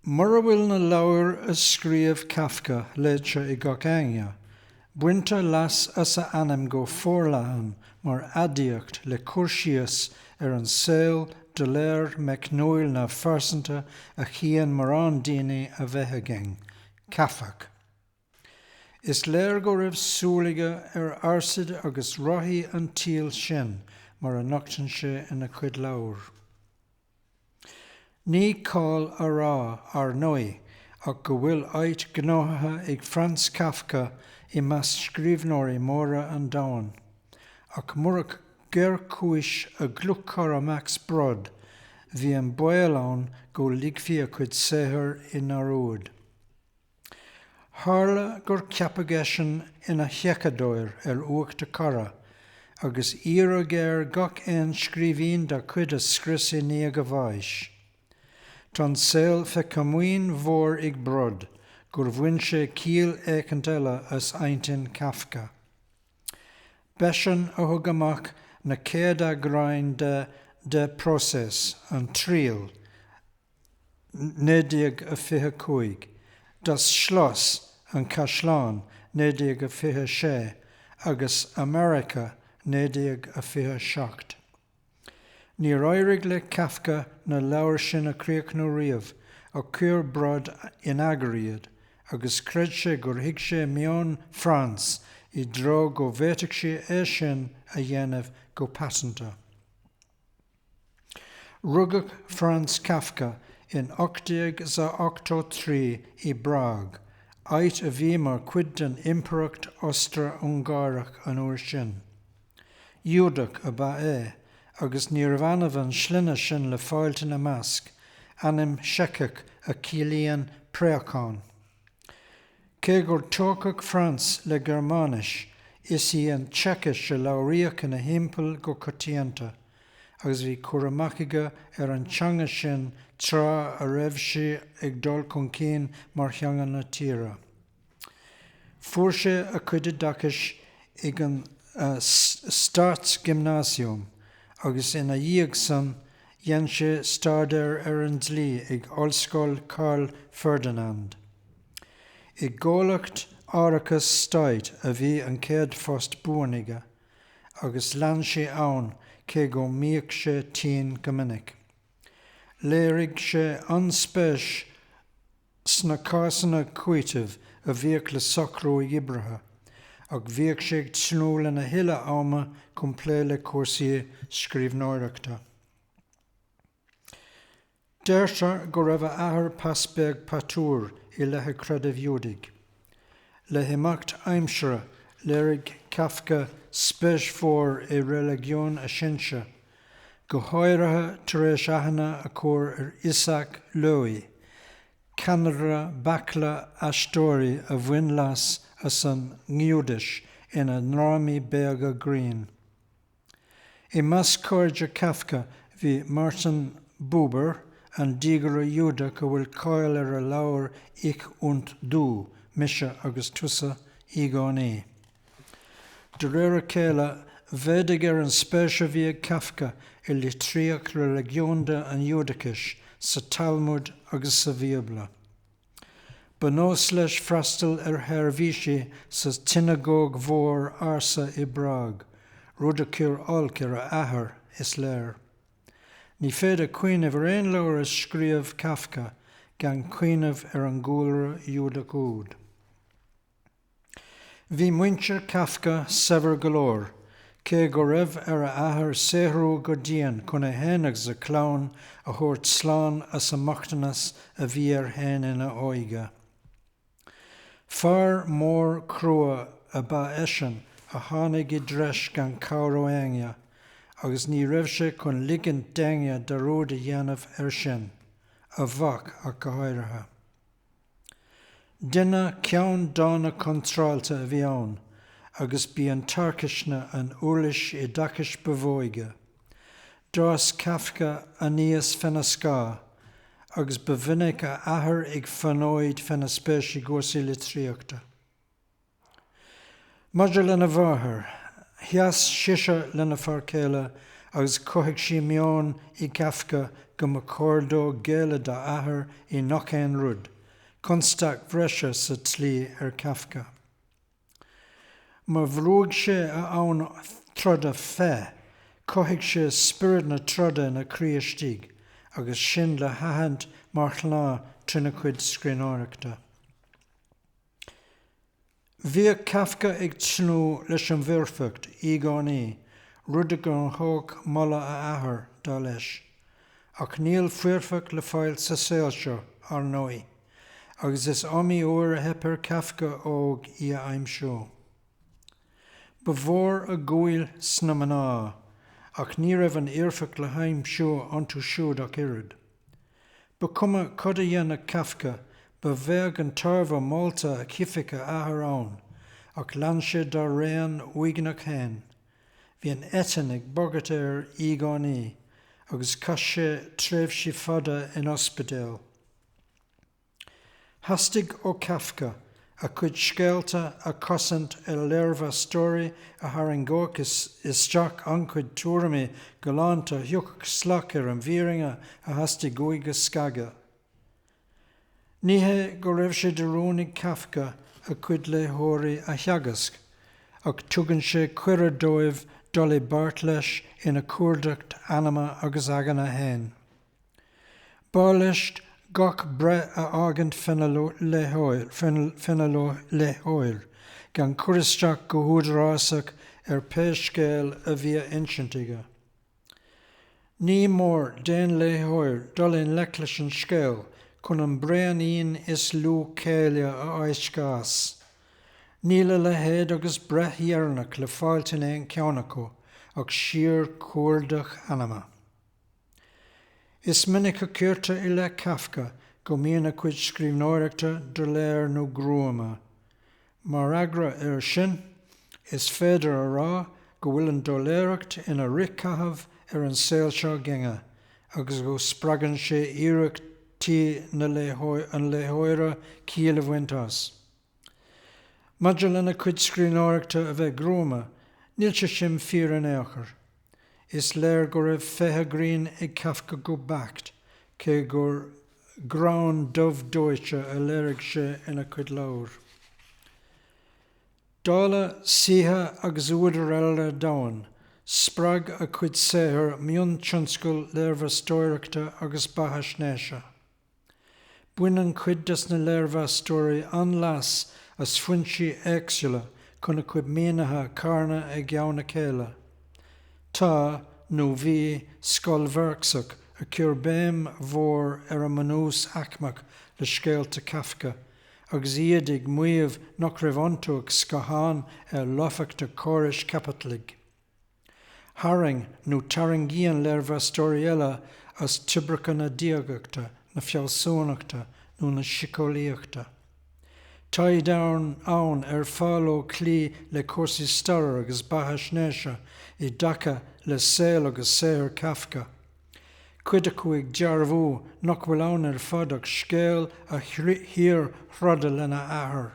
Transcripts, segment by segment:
Mura bhfuil na leabhair a scríobh Kafka léite ag gach éinne, baintear leas as a ainm go forleathan mar aidiacht le cur síos ar an saol doiléir meicniúil neamhphearsanta a chíonn mórán daoine a bheith againn, Kafkach. Is léir go raibh súil aige ar fhearsaid agus rothaí an tsaoil sin mar a nochtann sé ina chuid leabhar. Ní cáll a rá, ar ndóigh, ach go bhfuil áit gnóthaithe ag Franz Kafka i measc scríobhnóirí móra an domhain. Ach murach géarchúis a dhlúthchara Max Brod, bhí an baol ann go ligfí a chuid saothair i ndearúd. Tharla gur ceapadh eisean ina sheiceadóir ar uacht a charad, agus iarradh air gach aon scríbhinn dá chuid a scrios i ndiaidh a bháis. Tá an saol fé chomaoin mhór ag Brod gur bhain sé ciall éicint eile as intinn Khafka. B'eisean a thug amach na céad eagráin de Der Prozess, An Triail, 1925, Das Schloss, An Caisleán, 1926, agus America, 1927. Níor éirigh le Kafka na leabhair sin a chríochnú riamh ach chuir Brod in eagar iad agus chreid sé gur thuig sé meon Franz i dtreo go bhféadfadh sé é sin a dhéanamh go paiteanta. Rugadh Franz Kafka in 1883 i bPrág, áit a bhí mar chuid den Impireacht Ostra-Ungáireach an uair sin. Iúdach ab ea é, agus níorbh annamh an sloinne sin le fáilt ina measc, ainm Seiceach a chiallaíonn préachán. Cé gur tógadh Franz le Gearmáinis, is í an tSeicis a labhraíodh ina thimpeall go coitianta, agus bhí cur amach aige ar an teanga sin tráth a raibh sé ag dul chun cinn mar theanga na tíre. Fuair sé a cuid oideachais ag an Staatsgymnasium agus ina dhiaidh san Dhein sé staidéar ar an dlí ag Ollscoil Karl Ferdinand. I gcomhlacht árachais stáit a bhí an chéad phost buan aige agus lean sé ann cé go mbíodh sé tinn go minic. Léirigh sé an-spéis sna cásanna cúiteamh a bhíodh le socrú d'oibrithe, ach bhíodh sé ag tnúth lena thuilleadh ama chun plé le cúrsaí scríbhneoireachta. Deirtar go raibh a athair pas beag patuar i leith a chreidimh Iúdaigh. Le himeacht aimsire, léirigh Kafka spéis mhór i reiligiún a shinsear, go háirithe tar éis aithne a chur ar Isaac Lowy, ceannaire baicle aisteoirí a bhain leas as an nGiúdais ina ndrámaí beaga grinn. I measc cairde Kafka bhí Martin Buber, an diagaire Iúdach go bhfuil cáil ar a leabhar Ich und Du, Mise agus Tusa, i gcéin. De réir a chéile, mhéadaigh ar an spéis a bhí ag Kafka i litríocht reiligiúnda an Iúdachais, sa Talmud agus sa Bhíobla. Ba nós leis freastal ar sheirbhísí sa tsionagóg mhór ársa i bPrág, rud a chuir olc ar a athair, is léir. Ní féidir cuimhneamh ar aon leabhar a scríobh Kafka gan cuimhneamh ar an gcúlra Iúdach úd. Bhí muintir Kafka saibhir go leor, cé go raibh ar a athair saothrú go dian chun é féin agus a chlann a thabhairt slán as an mbochtanas a bhí air féin ina óige. Fear mór crua ab ea eisean a tháinig i dtreis gan cabhair ó éinne, agus ní raibh sé chun ligint d'éinne dearúd a dhéanamh air sin, a mhac ach go háirithe. Duine ceann dána contráilte a bhí ann agus b'í an tarcaisne an úirlis oideachais ba mhó aige. D'fhás Kafka aníos féna scáth agus ba mhinic a athair ag fonóid féna spéis i gcúrsaí litríochta. Maidir lena mháthair, sheas sise lena fear céile agus chothaigh sí meon i Kafka go mba chóir dó géilleadh dá athair i ngach aon rud, constaic bhreise sa tslí ar Kafka. Má bhrúigh sé a fhonn troda fé, chothaigh sé spiorad na troda ina chroí istigh agus sin le haithint mar shnáth trína chuid scríbhneoireachta. Bhíodh Kafka ag tnúth leis an bhfoirfeacht, i gcónaí, rud a ghnóthódh moladh a athar, dar leis. Ach níl foirfeacht le fáil sa saol seo, ar ndóigh, agus is iomaí uair a theip ar Kafka óg í a aimsiú. Ba mhór a dhúil sna mná, ach ní raibh an fhoirfeacht le haimsiú iontu siúd ach oiread. Ba chuma cad a dhéanfadh Kafka, ba bheag an tairbhe morálta a chífeadh a athair ann, ach lean sé dá raon uaigneach fhéin. Bhí an eitinn ag bagairt air i gcónaí, agus chaith sé tréimhsí fada in ospidéal. Theastaigh ó Kafka a chuid scéalta a chosaint ar léirmheastóirí a tharraingeodh isteach an-chuid tuairimí galánta a thiocfadh salach ar an bhfírinne a theastaigh uaidh a scagadh. Ní hé go raibh sé de rún ag Kafka a chuid léitheoirí a theagasc, ach tugann sé cuireadh dóibh dul i bpáirt leis ina chuardach anama agus aigne féin. B'áil leis gach breith a fhágaint fén léitheoir gan cur isteach go húdarásach ar pé scéal a bhí á insint aige. Ní mór d'aon léitheoir dul i ngleic leis an scéal chun an braonín is lú céille a fháisceadh as. Níl a leithéid agus breith dheireanach le fáilt in aon cheann acu ach síor-chuardach anama. Is minic a chuirtear i leith Kafka go mbíonn a chuid scríbhneoireachta doiléir nó gruama. Mar fhreagra air sin, is féidir a rá go bhfuil an doiléireacht ina fhrithchaitheamh ar an saol seo againne agus go spreagann sé iarrachtaí an léitheora ciall a bhaint as. Maidir lena chuid scríbhneoireachta a bheith gruama, níl sé sin fíor in ao' chor. Is léir go raibh féith an ghrinn ag Kafka go beacht, cé gur greann dubh dóite a léirigh sé ina chuid leabhar. Dála saoithe agus údair eile an domhain, spreag a chuid saothair mion-tionscal léirmheastóireachta agus beathaisnéise. Baineann cuid des na léirmheastóirí an-leas as foinsí éagsúla chun a chuid mínithe a charnadh i gceann a chéile. Tá, nó bhí, scoil Mharxach a chuir béim mhór ar an mbunús aicmeach le scéalta Kafka, agus iad ag maíomh nach raibh iontu ach scáthán ar lofacht an chórais chaipitligh. Tharraing nó tarraingíonn léirmheastóirí eile as toibreacha na diagachta, na fealsúnachta nó na siceolaíochta. Tá daoine ann ar fearr leo cloí le cúrsaí staire agus beathaisnéise i dtaca le saol agus saothar Kafka, cuid acu ag dearbhú nach bhfuil ann ar fad ach scéal a shíorthroda lena athair,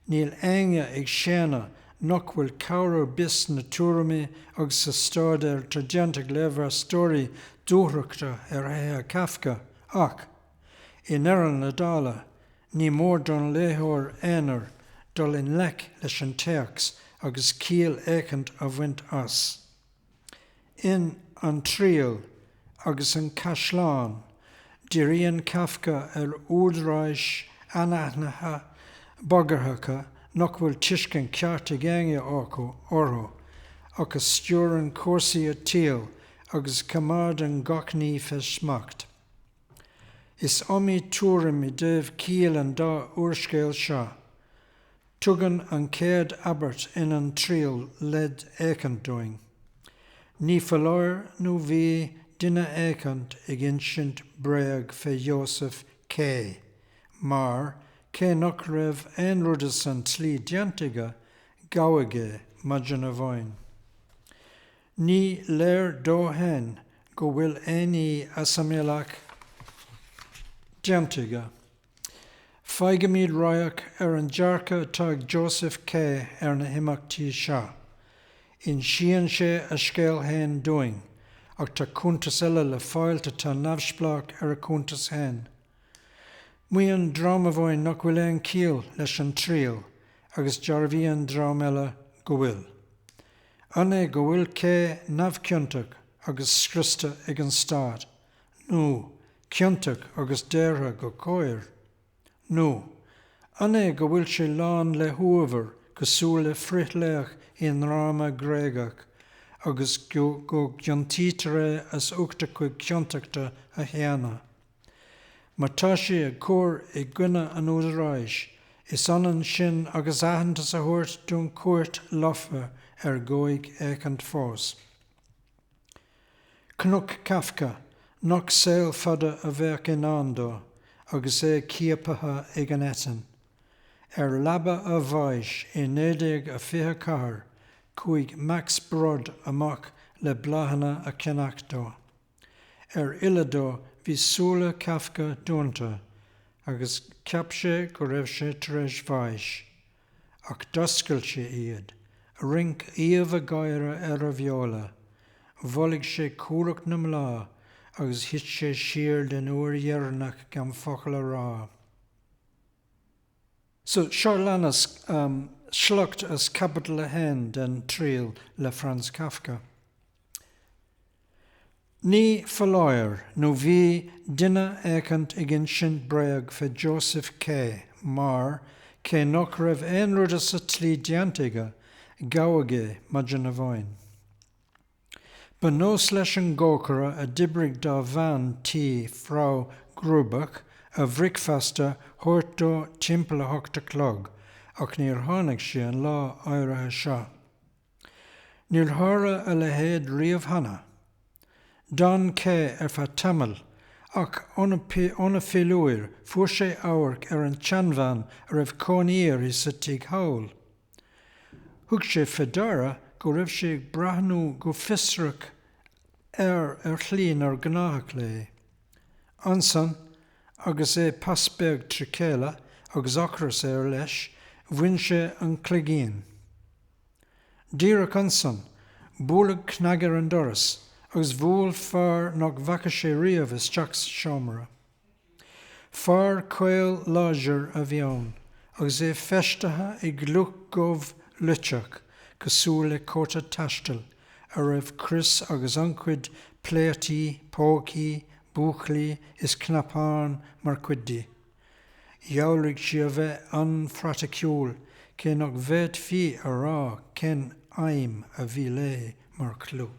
Níl éinne ag séanadh nach bhfuil cabhair ar bith sna tuairimí agus sa stáidéar atá déanta ag léirmheastóirí dúthrachta ar thréithe Kafka, ach, i ndeireadh na dála, ní mór don léitheoir aonair dul i ngleic leis an téacs agus ciall éicint a bhaint as. In 'An Triail agus an Caisleán', diríonn Kafka ar údaráis anaithnidthe bagarthacha nach bhfuil tuiscint cheart ag éinne acu orthu ach a stiúrann cúrsaí an tsaoil agus a choimeádann gach ní fé smacht. Is iomaí tuairim i dtaobh chiall an dá úrscéal seo. Tugann an chéad abairt in An Triail leid éicint dúinn. Ní foláir nó bhí duine éicint ag insint bréag fé Josef K. mar, cé nach raibh aon rud as an tslí déanta aige, gabhadh é maidean amháin. Ní léir dó féin go bhfuil aon ní as an mbealach déanta aige. Faighimid radharc ar an dearcadh atá ag Joseph K ar na himeachtaí seo. Insíonn sé a scéal fhéin dúinn, ach tá cuntas eile le fáilt atá neamhspleách ar a chuntas fhéin. Maíonn dream amháin nach bhfuil aon chiall leis an triail agus dearbhaíonn dream eile go bhfuil. An é go bhfuil K neamhchiontach agus scriosta ag an Stát? nó ciontach agus daortha go cóir? Nó an é go bhfuil sé lán le huabhar cosúil le frithlaoch i ndráma Gréagach agus go gciontaítear é as ucht a chuid ciontachta a shéanadh? Má tá sé ag cur i gcoinne an údaráis, is ionann sin agus aitheantas a thabhairt don chúirt lofa ar dhóigh éicint fós. Cnoc Kafka, nach saol fada a bheadh i ndán dó agus é ciapaithe ag an eitinn. Ar leaba a bháis i 1924 chuaigh Max Brod amach le bláthanna a cheannach dó. Ar fhilleadh dó bhí súile Kafka dúnta agus cheap sé go raibh sé tar éis bháis. Ach d'oscail sé iad, rinc aoibh an gháire ar a bheola, bholaigh sé cumhracht na mbláth agus thit sé siar den uair dheireanach gan focal a rá. So, seo a leanas sliocht as Caibidil a hAon den Triail le Franz Kafka. Ní foláir nó bhí duine éicint ag insint bréag fé Joseph K. mar, cé nach raibh aon rud as an tslí déanta aige, gabhadh é maidin amháin. Ba nós leis an gcócaire a d'oibrigh dá bhean tí, Frau Grubach, a bhricfeasta a thabhairt dó timpeall a hocht a chlog, ach níor tháinig sí an lá áirithe seo. Níor tharla a leithéid riamh cheana. D'fhan K. ar feadh tamaill, ach óna philiúir fuair sé amharc ar an tseanbhean a raibh cónaí uirthi sa tigh thall. Thug sé fé ndeara go raibh sí ag breathnú go fiosrach air ar shlí nár ghnáthach léi. Ansan, agus é pas beag trí chéile agus ocras air leis, bhain sé an cloigín. Díreach ansan, bualadh cnag ar an doras agus bhuail fear nach bhfaca sé riamh isteach sa seomra. Fear caol láidir a bhí ann agus é feistithe i gculaith dhubh luiteach cosúil le cóta taistil a raibh crios agus an-chuid pléataí, pócaí, búclaí is cnapáin mar chuid di. Dhealraigh sí a bheith an-phraiticiúil, cé nach bhféadfaí a rá cén fheidhm a bhí léi mar chulaith.